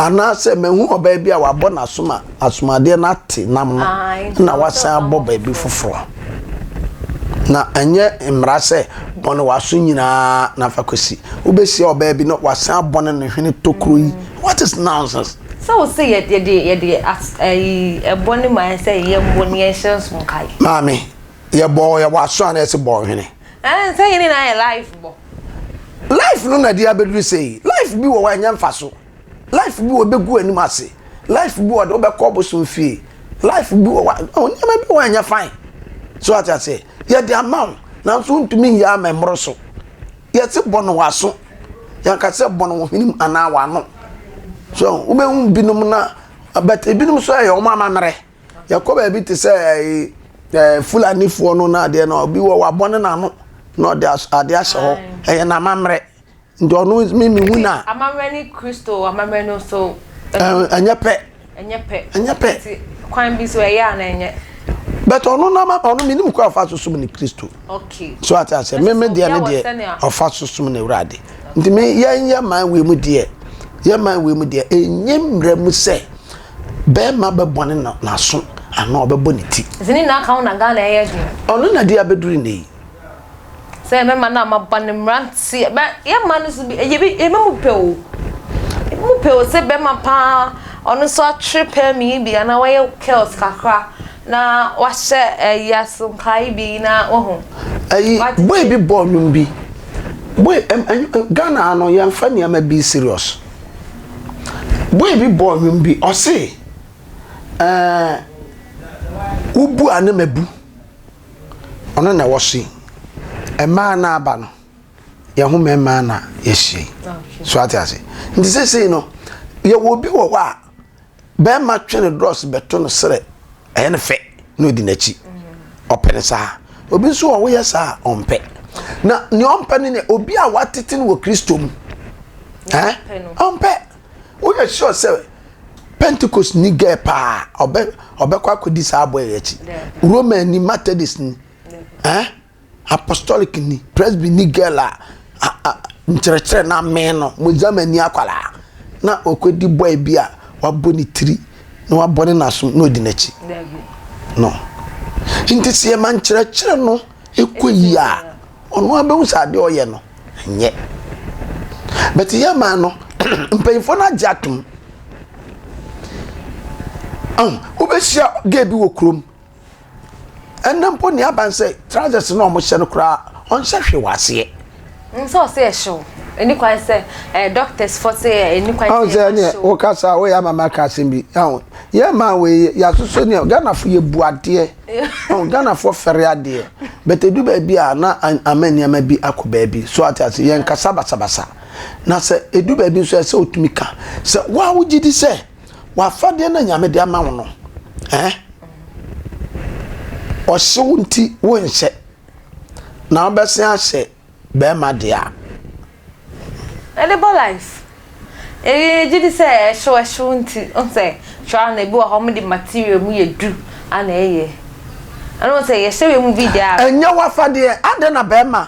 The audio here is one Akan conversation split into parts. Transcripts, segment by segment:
Anaasɛ mahu ɔbaa bi a wabɔ n'asom a asomadeɛ no ate nam no na wasan abɔ baabi foforɔ. Na ɛnyɛ mmara sɛ bɔne w'aso nyinaa na fa kɔsi. Wobɛhyia ɔbaa bi na wasan abɔne ne hwene tokuro yi. What is nonsense? Sɛ wo se yɛde yɛde ɛyi ɛbɔ ne ma yɛn sɛ yɛn bɔ ne yɛn hyɛ nso nkae. Maame yɛ bɔ yɛ bɔ aso ana ɛsi bɔ hwene. ɛn sɛ yɛ nyinaa yɛ life bɔ. life no na ɛde abɛduru sɛ yi life bi wɔ hɔ a ɛnyɛ mfa so life bi wɔ ɛbɛgu anim ase life bi wɔ de wobɛkɔ bosom fie life bi wɔ hɔ a oh, nneɛma bi wɔ a ɛnyɛ fine so ate aseɛ yɛde ama wo nanso wontumi nyɛ ama mmoro so yɛse bɔ no w'aso yɛnka sɛ bɔ no wo hwenem anaa w'ano so wobɛhu binom na but ebinom nso ɛyɛ wɔn amammerɛ Yɛkɔ baabi te sɛ ɛyi ɛɛ Fulanifoɔ no na adeɛ no obi wɔ wabɔ ne n'ano na ɔde adeɛ ahyɛ hɔ. Ɛyɛ n'amammerɛ. Nti ɔno mi mi hu na. Amammerɛ ne Kristo amammerɛ no so. Ɛnyɛ pɛ. Ɛnyɛ pɛ. Ɛnyɛ pɛ. Nti kwan bi so ɛyɛ a na ɛnyɛ. But ɔno n'ama ɔno mi nim kɔ afa so sum ne Kristo. Okay. So ate aseɛ mi mi deɛ ne deɛ ɔfa so sum ne wurade. Nti mi yɛn yɛ man wei mu deɛ yɛ man wei mu deɛ ɛnyɛ mmerɛ mu sɛ. Bɛɛma bɛbɔne na n'aso anaa ɔbɛbɔ ne ti. Sɛ ne nyinaa ka ho na Ghana ɛyɛ he. Ɔno na de abɛduru nnɛ yi. Sɛ mɛma no a maba ne mmeranteɛ bɛ yɛ mma no so bi ɛyɛ bi ebi mu pɛ o ebi mu pɛ o sɛ bɛma paa ɔno nso atwere pɛɛ mi yi bi anaa wayɛ curls kakra na wahyɛ ɛyi asonkaa yi bi na wahu. Ɛyi boy bi bɔɔ nnwom bi boy ɛm ɛm Ghana ha no yɛn fa nneɛma bi serious. Boy bi bɔɔ nnwom bi, ɔse, eh, wobu a na mabu, ɔno na ɛwɔ so yi. Mmaa na aba no, yɛn ho mmarima na yɛahyia yi. So ate ase? Nti seesei no, yɛwɔ obi wɔ hɔ a. bɛrima twe ne drɔs bɛto no serɛ ɛyɛ no fɛ na ɔdi n'akyi ɔpɛ no saa obi nso wɔ woyɛ saa a ɔmpɛ na nea ɔmpɛ no nea obi a watete no wɔ kristo mu ɛn ɔmpɛ woyɛ sure sɛ pentecost ni gɛɛ paa ɔbɛ ɔbɛkɔ akɔdi saa abɔ yɛ akyi roman ni methodist ni ɛn. Apostolic-ni, Presby-ni girl a nkyerɛkyerɛ no amee no, Mozamani akwadaa na ɔkɔdi boy bi a wabɔ ne tiri na wabɔ ne n'asom na ɔdi n'akyi no. Nti sɛ yɛma nkyerɛkyerɛ no kɔ yie a, ɔno ara bɛhu sɛ adeɛ a ɔyɛ no nyɛ. But yɛma no, mpanyinfoɔ no agye atom. Ɔn, wobɛhyia gay bi wɔ kurom. ɛnɛ mpo nea aban sɛ trousers na wɔn hyɛ no koraa ɔnhyɛ hwee wɔ aseɛ. nsɛ ɔsɛ ɛhyew ɛni kwan sɛ ɛɛ doctors fɔ sɛ ɛni kwan sɛ ɛhyew. ɔnsɛ ɛni ɛ o kasa o yɛ ama ma ka asɛm bi ɛho yɛ maa wɔ yɛ yasoso ni ɛ Ghana fo yɛ bu adeɛ ɛho Ghana fo fɛre adeɛ bɛtɛ du baabi a na ama nneɛma bi akɔ baabi so ate ase yɛn kasa basabasa na sɛ edu baabi nso ɛsɛ otumi ka sɛ wɔn a wogye di sɛ. w'afadeɛ no nyame de ama wo no eh? ɔhyew nti wonhyɛ na wobɛsen ahyɛ bɛrima deɛ a ɛde bɔ life eyi gye di sɛ ɛhyew ɛhyew nti nsɛ twa na ebi wɔ hɔ de material mu yɛ du ana ɛyɛ ɛno sɛ yɛhyɛ wei mu bi deɛ a ɛnyɛ w'afadeɛ adɛn na bɛrima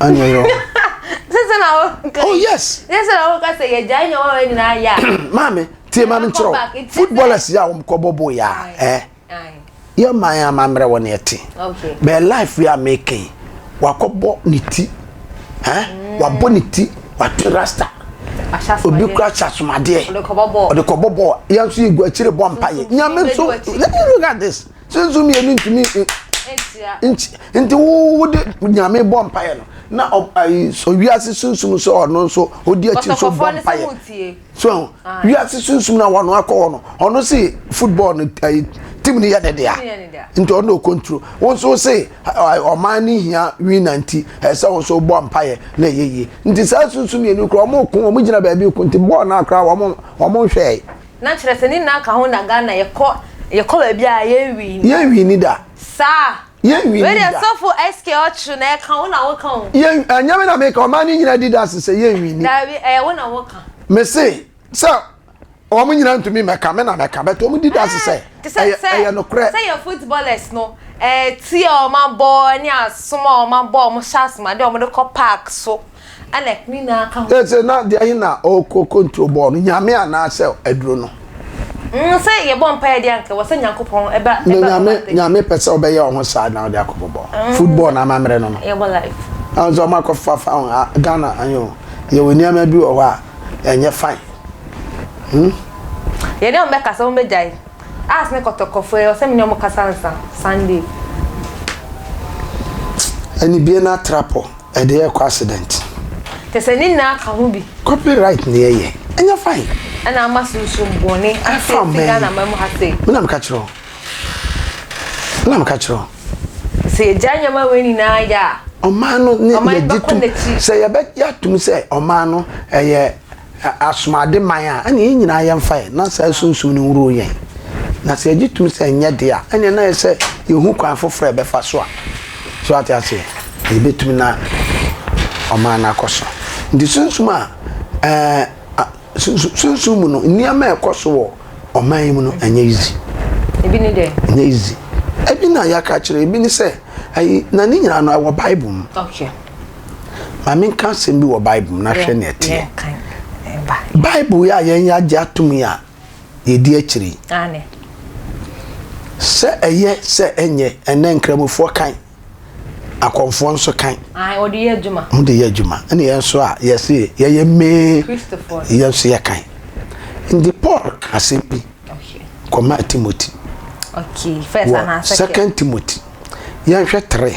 anyɛ ɔyerɛ hɔ sese na wo nka oh yes sese na wo nka sɛ yɛ gya nyɛ wɔn nyinaa yɛ a maame tie maame nkyerɛ footballers yɛ a wɔn kɔ bɔbɔ yɛ a ɛɛ yɛ man a ma mmerɛ wɔ ne ɛte bɛɛ life yɛ a mɛkɛn wakɔ bɔ ne ti ɛɛ mm. wabɔ ne ti wate rasta obi kura hyɛ asomadeɛ ɔde kɔ bɔ bɔɔl yɛn nso yɛ gu akyire bɔ mpa yɛ nyame nso let me look at this. Sunsum mmienu ntumi nti wode nyame bɔ mpaeɛ no na wiase sunsum sɛ ɔno nso ɔdi akyi so bɔ mpaeɛ so ah. wiase sunsum no wɔno akɔ hɔ no ɔno se football no tim no yɛ ne dea nti ɔno ɔkɔnturo wo nso se ɔman no hia wina nti ɛsɛ wo nso bɔ mpaeɛ na ɛyɛ yie nti saa sunsum mmienu korɔ ɔmo ko ɔmo gyina baabi ko nti bɔɔl no akora ɔmo nhwɛe Na kyerɛ sɛ ne nyinaa ka ho na Ghana yɛkɔ yɛkɔ baabi a yɛn wii ni. Yɛn wii ni da. Saa. Yɛn wii ni da. Wei deɛ sɔfo SK ɔkye na ɛka wo na woka o. Yɛn ɛnyɛ me na meka ɔman ne nyinaa di dase sɛ yɛn wii ni. Daabi ɛyɛ wo na woka. Mese sɛ wɔn nyinaa ntumi mɛka me na mɛka but wɔn di dase sɛ ɛyɛ ɛyɛ nokorɛ. Sɛ yɛn footballers no ɛɛ ti a wɔn abɔ ne asom a wɔn abɔ a wɔn hyɛ asomadeɛ a wɔn de kɔ park so. Anak ne nyinaa ka ho. Sɛ sɛ na deɛ he na ɔkɔ control bɔɔ no, Nyame anaa sɛ aduro no? Mm, sɛ yɛbɔ mpaeɛ deɛ anka ɛwɔ sɛ Nyankopɔn ɛba ɛba. Na Nyame Nyame pɛ sɛ ɔbɛyɛ ɔho saa na ɔde akɔ bɔbɔ mm, football na amammerɛ no no. Yɛbɔ life. Ɛwɔ sɛ ɔmo akɔ fa fa ho Ghana ayɛ o, yɛwɔ nneɛma bi wɔ hɔ a ɛnyɛ fine. Hmm. Yɛne ɔmo bɛkasa ɔmo bɛgyae. As ne kɔtɔkɔfoɔ yi ɔsɛ me ne ɔmo kasa ansa Sunday. Ɛne bie no atrapɔ ɛde ɛɛkɔ accident. Kyɛ sɛ ne nyinaa ka ho bi. Copy right ne ɛyɛ ɛnyɛ fine. Ɛna ama sunsum bɔne aseɛ fi Ghana man mu ha sei. Me na meka kyerɛ wo. Me na meka kyerɛ wo. Sɛ yɛgyae nneɛma wei nyinaa yɛ a. Ɔman no ne yɛgye tum sɛ yɛbɛgye atum sɛ ɔman no ɛyɛ. asomuade man a, ɛnneɛ yɛn nyinaa yɛmfa ɛ, na saa sunsum no nworo yɛn. Na sɛ yɛgye tom sɛ ɛnyɛ dea, ɛnneɛ na ayɛ sɛ yɛhu kwan foforɔ a yɛbɛfa so a, so wate aseɛ, yɛbɛtumi na ɔman no akɔ so. Nti sunsum a, ɛɛ, sunsum mu no, nneɛma a ɛkɔ so wɔ ɔman yi mu no, ɛnyɛ easy. Ebi ne dɛ? Ɛnyɛ easy. Ebi na yɛaka akyerɛ, ebi ne sɛ, ɛyi, na ne nyinaa no ɛwɔ Bible mu. Okay. Ma menka asɛm bi wɔ Bible mu na hwɛ nea ɛteɛ. Bible yi a yɛn yɛagye atom yi a yɛdi akyiri sɛ ɛyɛ sɛ ɛnyɛ ɛnɛ nkramofoɔ kan akɔmfoɔ nso kan wɔde yɛ adwuma wɔde yɛ adwuma ɛna yɛn nso a yɛsi yɛyɛ mee yɛn nso yɛ kan nti Paul asɛm bi kɔma Timothy wɔ second Timothy yɛnhwɛ three.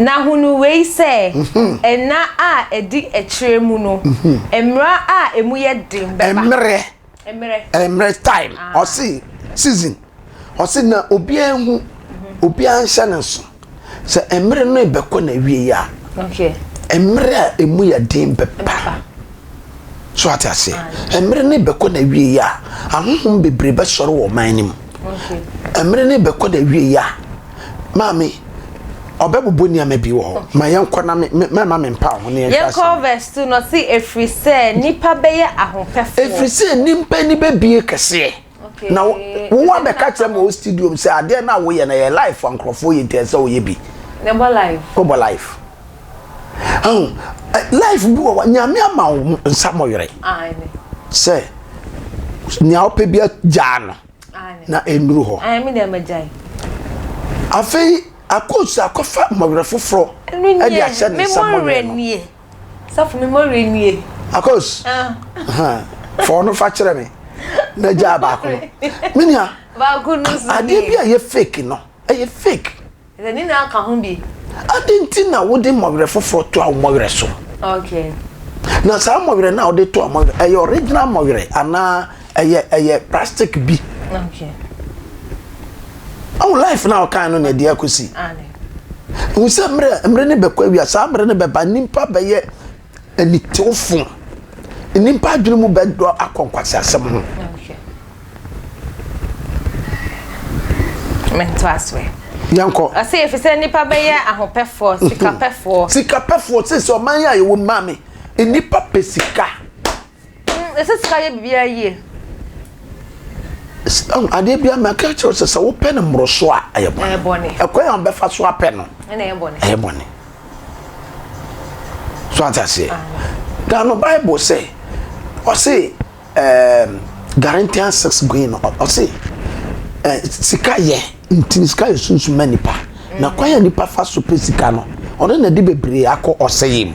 Na hunu wei sɛ, nna a ɛdi akyire mu no, mmerɛ a ɛmu yɛ den bɛba. Mmerɛ. Mmerɛ. Mmerɛ, time. Ah. Ɔse, season. Ɔse, na obiara nhu, obiara nhyɛ ne nso. Sɛ mmerɛ no rebɛkɔ n'awieɛ a, Okay. mmerɛ a ɛmu yɛ den bɛba. Bɛba. So ate aseɛ? Ah. Mmerɛ no rebɛkɔ n'awieɛ a, ahonhom bebree bɛsɔre wɔ ɔman no mu. Okay. Mmerɛ no rebɛkɔ n'awieɛ a, Maame, ɔbɛbobɔ nneɛma bi wɔ hɔ. Ma yɛnkɔ na me, me, mɛma me mpa ho na yɛnhwɛ asɛm. Yɛnkɔ verse two na ɔsi efiri sɛ nipa bɛyɛ ahopɛfoɔ. Efiri sɛ nipa ni bɛbie kɛseɛ. Okay. Na wo wa bɛka kyerɛ ma o studio mu sɛ adeɛ na woyɛ na yɛ life a nkorɔfoɔ yɛ nti ɛsɛ woyɛ bi. Na ɛbɔ life. Wobɔ life. Ahu, life bi wɔ hɔ nyame ama wo nsa mɔwerɛ. Aane. Sɛ nea wopɛ bi gyaa no. na ɛnnuru hɔ. Afei akɔsu akɔfa mmɔwerɛ foforɔ de ahyɛ ne nsa mmɔwerɛ no. Safo mi mmɔwerɛ nie. Akɔs fa ɔno fa kyerɛ me na gyaa baako no. Me nua adeɛ bi a ɛyɛ fake no ɛyɛ fake. Ɛdɛ ne nyinaa ka ho bi. Adɛn nti na wode mmɔwerɛ foforɔ toa wo mmɔwerɛ so? Okay. Na saa mmɔwerɛ no a wode toa mmɔwerɛ, ɛyɛ original mmɔwerɛ anaa ɛyɛ ɛyɛ plastic bi? Okay. Ahu life no a ɔkae no na ɛde akɔsi. Aane. Hu sɛ mmerɛ, mmere no bɛkɔ awia, saa mmere no bɛba, nnipa bɛyɛ. Anitewfo, nnipa adwene mu bɛdɔ akɔ nkwaseasɛm ho. Mento asoɛ. Yankɔ. Ɔsɛ efisɛ nnipa bɛyɛ ahopɛfoɔ, mhm. sikapɛfoɔ. Sikapɛfoɔ sɛ sɛ ɔman yɛ a yɛwɔ maame. Nnipa pɛ sika. Yɛsɛ sika yɛ biribiara yie. Adeɛ biara mɛka kyerɛ sɛ sɛ wopɛ no mmoroso a ɛyɛ bɔne. Ɛkwan a wobɛfa so apɛ no ɛyɛ bɔne. So ate aseɛ? Ghana no Bible sɛ ɔse um, Galatians 6 going no ɔse uh, sika yɛ ntini sika yɛ sunsun ma nipa na kwan a nipa fa so pɛ sika no ɔno na ɛde bebree akɔ ɔsɛyɛ mu.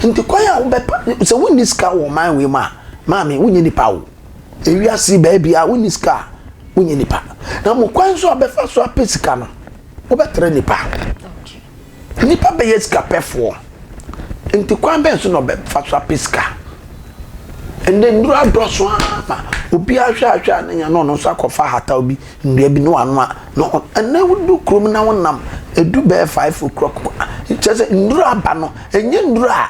Nti kwan a wobɛpa sɛ wonni sika wɔ ɔman wei mu a, maame wonyɛ nipa o. Ewiase baabi a wonni sika a, wonyɛ nipa. Na mo kwan so a bɛfa so apɛ sika no, wobɛtrɛ nipa. Nipa bɛyɛ sikapɛfoɔ. Nti kwan bɛn so na ɔbɛfa so apɛ sika? Ɛnɛ nnuro adɔso ara ma obiara hwɛ a hwɛ a ne nya na ɔno nso akɔfa ahataw bi Nnua bi no ano a na hɔn anan wodu kurow mu na wɔnam edu bɛyɛ five o'clock mu a, kyerɛ dɛ nnuro aba no, nnyɛ nnuro a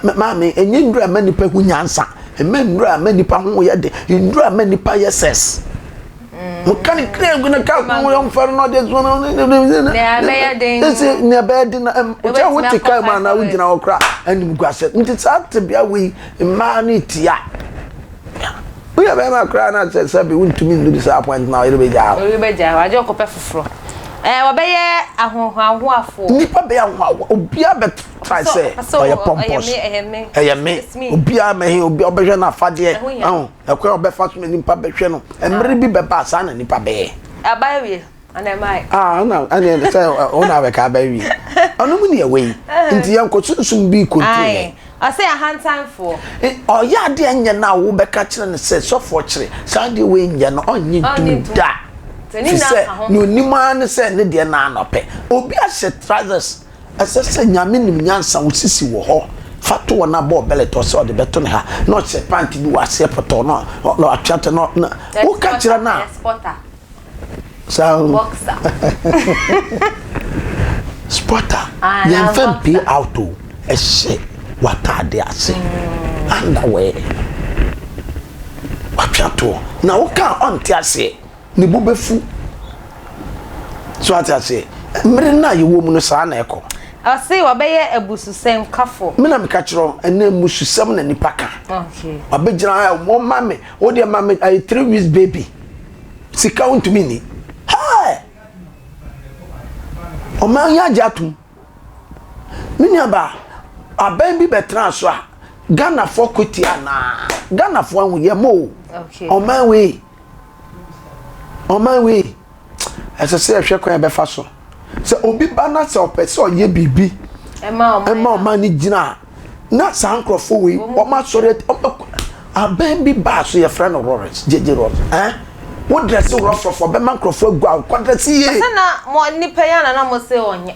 me maame, nnyɛ nnuro a ɛma nnipa hu nyansa, mma nnuro a ɛma nnipa ho yɛ den, nnuro a ɛma nnipa yɛ sex. Wɔka no kraa gu no, kaa kwan a ɔmfa no na ɔde asi hɔ no, Nea ɛbɛyɛ den no. Ese nea ɛbɛyɛ den no, ɛm- kyɛ Wobɛtumi wote kaa mu akɔ anaa five wogyina hɔ koraa a, animguasɛm. Nti saa tebea wei, mmaa no retia. Wo yɛ bɛɛma koraa na kyɛ sɛ bi wo ntumi nnu disappoint ma ɔyere bɛgyaa wo. Ɔyere bɛgyaa wo agye ɔkɔpɛ foforɔ ɛɛ wɔbɛyɛ ahohoahoafoɔ. Nnipa bɛyɛ ahohoahoa obiara bɛ try sɛ ɔyɛ pompous ɛyɛ me ɛyɛ me it's me obiara mɛ he obiara ɔbɛhwɛ no afadeɛ ɛho hia no ɛkwan ɔbɛfa so na nnipa bɛhwɛ no ɛmere bi bɛba saa na nnipa bɛyɛ. Ɛba awie. And am I? Ah, no, and then say, oh, now we can be we. Oh, no, money away. Into your cotton soon be control. I say a hand time for. Oh, yeah, the engine now will be catching and say, so for tree. Sandy wing, you're not on you do that. Te sɛ na onim ara ne sɛ ne deɛ na anɔpɛ obi ahyɛ trousers ɛsɛ sɛ nyame nim nyansa wosisi wɔ hɔ fa to wɔn abɔ ɔbɛlɛ tɔ sɛ ɔde bɛto ne ha na ɔhyɛ pant bi wɔ aseɛ pɔtɔ na ɔtwɛtɛ na woka kyerɛ no a Sound. Boxer. Spotter. Ah, na Yɛn fɛn boxer. pay out o. Ɛhyɛ w'ataade ase. Underwear. Watwe atoɔ. Na wo ka a ɔnte aseɛ. Ne bo bɛfu. So ate aseɛ? Mmere no a yɛwɔ mu no saa na ɛkɔ. Ɔse wabɛyɛ abususɛm kafo. Me na meka kyerɛ wo, ɛnɛ mmususɛm na nnipa ka. Okay. Wabɛgyina ha, wɔma me, wo deɛ ma me ɛyɛ three weeks baby. sika wontumi nni hɛɛ ɔman yi agye atom me nuaba aban bi bɛtena so a ghanafoɔ kwati anaa ghanafoɔ ahu yɛ mo ɔman wei ɔman wei ɛsɛ sɛ yɛhwɛ kwan yɛbɛfa so sɛ obi ba na sɛ ɔpɛ sɛ ɔyɛ biribi ɛma ɔman no gyina a na saa nkurɔfoɔ wei wɔn asɔre abɛn bi baa so yɛfrɛ no rɔrɛs gyegye rɔrɛs ɛn wo drɛse rɔfrɔfɔ bɛma nkurɔfoɔ agu awo kɔ drɛse yie. ɛsɛ na mo nipa yɛ na na mo se ɔnyɛ.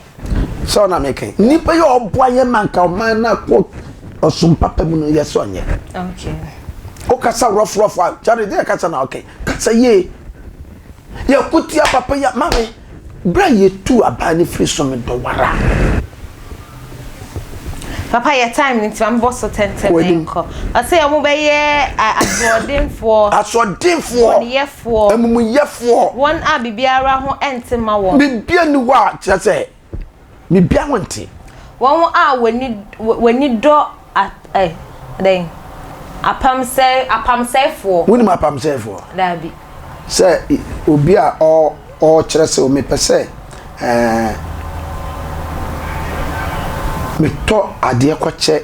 sɛ ɔna mi kɛn nipa yɛ ɔboa yɛ ma nka ɔman na kɔ ɔsom papa mu no yɛ sɛ ɔnyɛ. okay. o kasa rɔfrɔfɔ a kyari deɛ kasa na ɔkɛn Kasa yie. Yɛ ko tia papa yi a maame berɛ a yɛtuu abaa no firi so medɔ wara. papa yɛ time no nti ma mebɔ so tɛntɛm Kɔ anim. nkɔ ɔsɛ ɔmo bɛyɛ a- asoɔdenfoɔ Asoɔdenfoɔ, bɔneyɛfoɔ amumuyɛfoɔ, wɔn a biribiara ho nte ma wɔn biribi nni hɔ a kyerɛ sɛ Biribiara nte. Wɔn a wɔni wɔni dɔ a ɛ dɛn apamsɛe apamsɛefoɔ. Wonim apamsɛefoɔ? Daabi. Sɛ obi a ɔ ɔkyerɛ sɛ mepɛ sɛ ɛɛ metɔ adeɛ kɔkyɛ.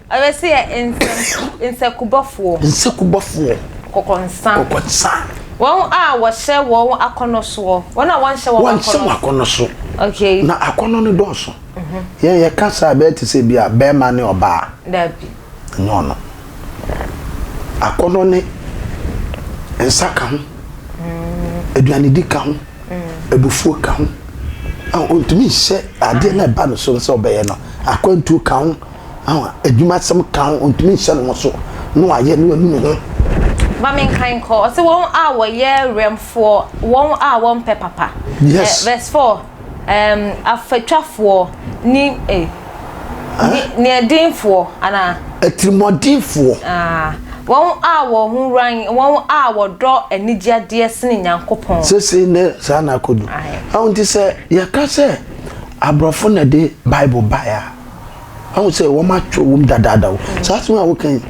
Ɔyɛ sɛ yɛ nsɛm nsekubɔfoɔ. Nsekubɔfoɔ. Kɔkɔnsa. Kɔkɔnsa. Wɔn a wɔhyɛ wɔn akɔnɔ soɔ. Wɔn a wɔnhyɛ wɔn akɔnɔ so. Wɔnhyɛ wɔn akɔnɔ so. Okay. Na akɔnɔ no dɔɔso. Mhm. Yɛn yɛ ka saa bɛyɛ te sɛ bi a bɛɛma ne ɔbaa. Dabi. Nyɛ ɔno. Akɔnɔ ne nsa ka ho. Mm. Aduanedi ka ho. Mm. Abufuo ka ho. Ɔntumi nhyɛ adeɛ na ɛba no so sɛ ɔbɛyɛ no. Akwantuo ka ho. adwuma sɛm ka ho, ɔntumi nhyɛ ne ho so na wayɛ na wanu ne ho. Ma menkan nkɔ, ɔse wɔn a wɔyɛ werɛmfoɔ, wɔn a wɔmpɛ papa. Yes. Verse 4, um, afatwafoɔ ne, eh, ne, neɛdenfoɔ, anaa? Atirimuɔdenfoɔ. Ah, wɔn a wɔn ho ran, wɔn a wɔdɔ anigyeadeɛ sene Nyankopɔn. Sese ne saa na akɔdu. Aho nti sɛ yɛka sɛ aborɔfo na de Bible baeɛ a, ahu sɛ wɔn atwerɛ wɔm dadaada o mm. saa asɛm a woka yi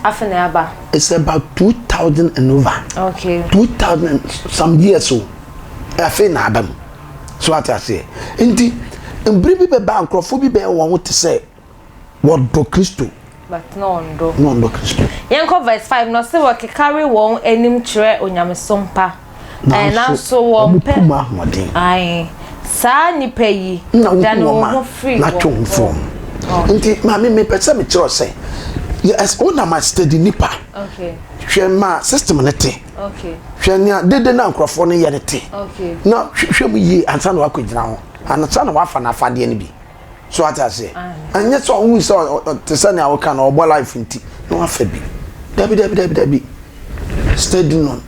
afei aba it's about two thousand and over okay two thousand some years o afei na aba mu so ate aseɛ nti mbiri bi bɛba nkurɔfoɔ bi bɛyɛ wɔn ho te sɛ wɔdɔ kristo But na ɔndɔ. Na ɔndɔ Kristo. Yɛnkɔ verse five na ɔse wɔkekare wɔn anim kyerɛ onyamesom pa, ɛɛ nanso wɔn pɛ. Nanso wɔn kum ahoɔden. Ae, saa nnipa yi. Na wokum wɔn a, na twe ho firi wɔn. Nti maame me pɛ sɛ me kyerɛ wo sɛ, yes wo na ma study nnipa. Okay. Hwɛ ma system no te. Okay. Hwɛ nea dede na nkurɔfoɔ no yɛ no te. Okay. Na hwɛ mu yie ansa na wakɔ gyina ho, ansa na wafa n'afadeɛ no bi. so ate aseɛ ɛnyɛ sɛ ɔhu sɛ ɔte sɛ nea woka no ɔbɔ life nti na wafa bi dabi dabi dabi dabi steady no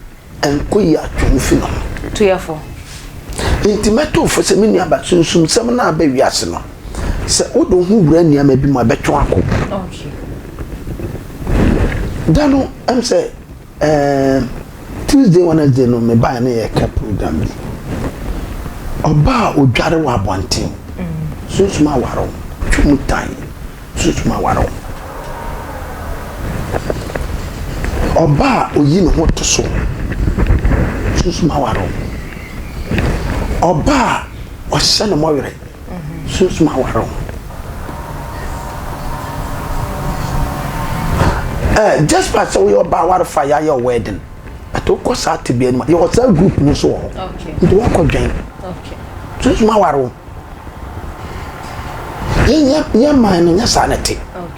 ɛnkɔ yi atwe no fi no tuyɛfo nti mɛto fo sɛ me nua ba sunsum sɛm no aba wiase no sɛ wode wo ho wura nneɛma bi mu a bɛtwe ako da no ɛm sɛ Ɛɛm Tuesday Wednesday no me bae na yɛka program bi. Ɔbaa a odware wɔ abɔnten. Mm. Sunsum aware wo. Twa mu tan. Sunsum aware wo. Ɔbaa a oyi ne ho to so. Sunsum aware wo. Ɔbaa a ɔhyɛ ne mɔwere. sunsum awar ho. Ɛ, just by sɛ woyɛ ɔbaa awar fa yɛayɛ wo wedding, but wokɔ saa tebea no mu a, yɛwɔ saa group no nso wɔ hɔ. Nti woakɔdwɛn. Sunsum awar ho. Yɛn man no, nyɛ saa na ɛte.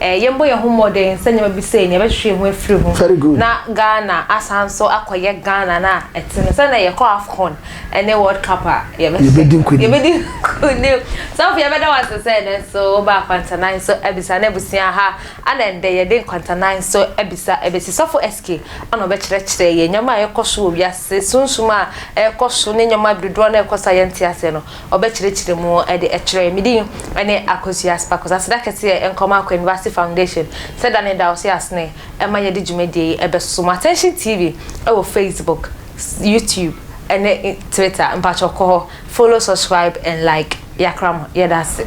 Eh, yɛmbɔ yɛn ho mmɔden sɛ nneɛma bi sei no, yɛbɛtwetwe yɛn ho afiri ho. Very good. Na Ghana asan so akɔyɛ Ghana no a ɛte no. Sɛ na yɛkɔ AFCON ne World Cup a, yɛbɛ- Yɛbɛdi nkonim. Yɛbɛdi nkonim. Sɔfo, yɛbɛda wo ase sɛ ɛnnɛ nso wobaa Nkwantanae so abisa ne abusua ha. Ana ɛnnɛ yɛde Nkwantanae so abisa abesi. Sɔfo SK ana ɔbɛkyerɛkyerɛ yɛn nneɛma a ɛrekɔ so wɔ wiase, sunsum a ɛrekɔ so ne nneɛma bi dodoɔ no a ɛrekɔ so a yɛnte aseɛ no. ɔbɛkyerɛkyerɛ mu de kyerɛɛ me din ne Akosua Spakos aseda kɛseɛ nkɔma Akwanibasi Foundation sɛ da ne da ɔse asene ɛma yɛde dwumadie yi ɛbɛsoso mo Attention TV ɛwɔ Facebook, YouTube ɛne Twitter mpakyɛw kɔ hɔ follow subscribe and like yakra mo yɛda ase.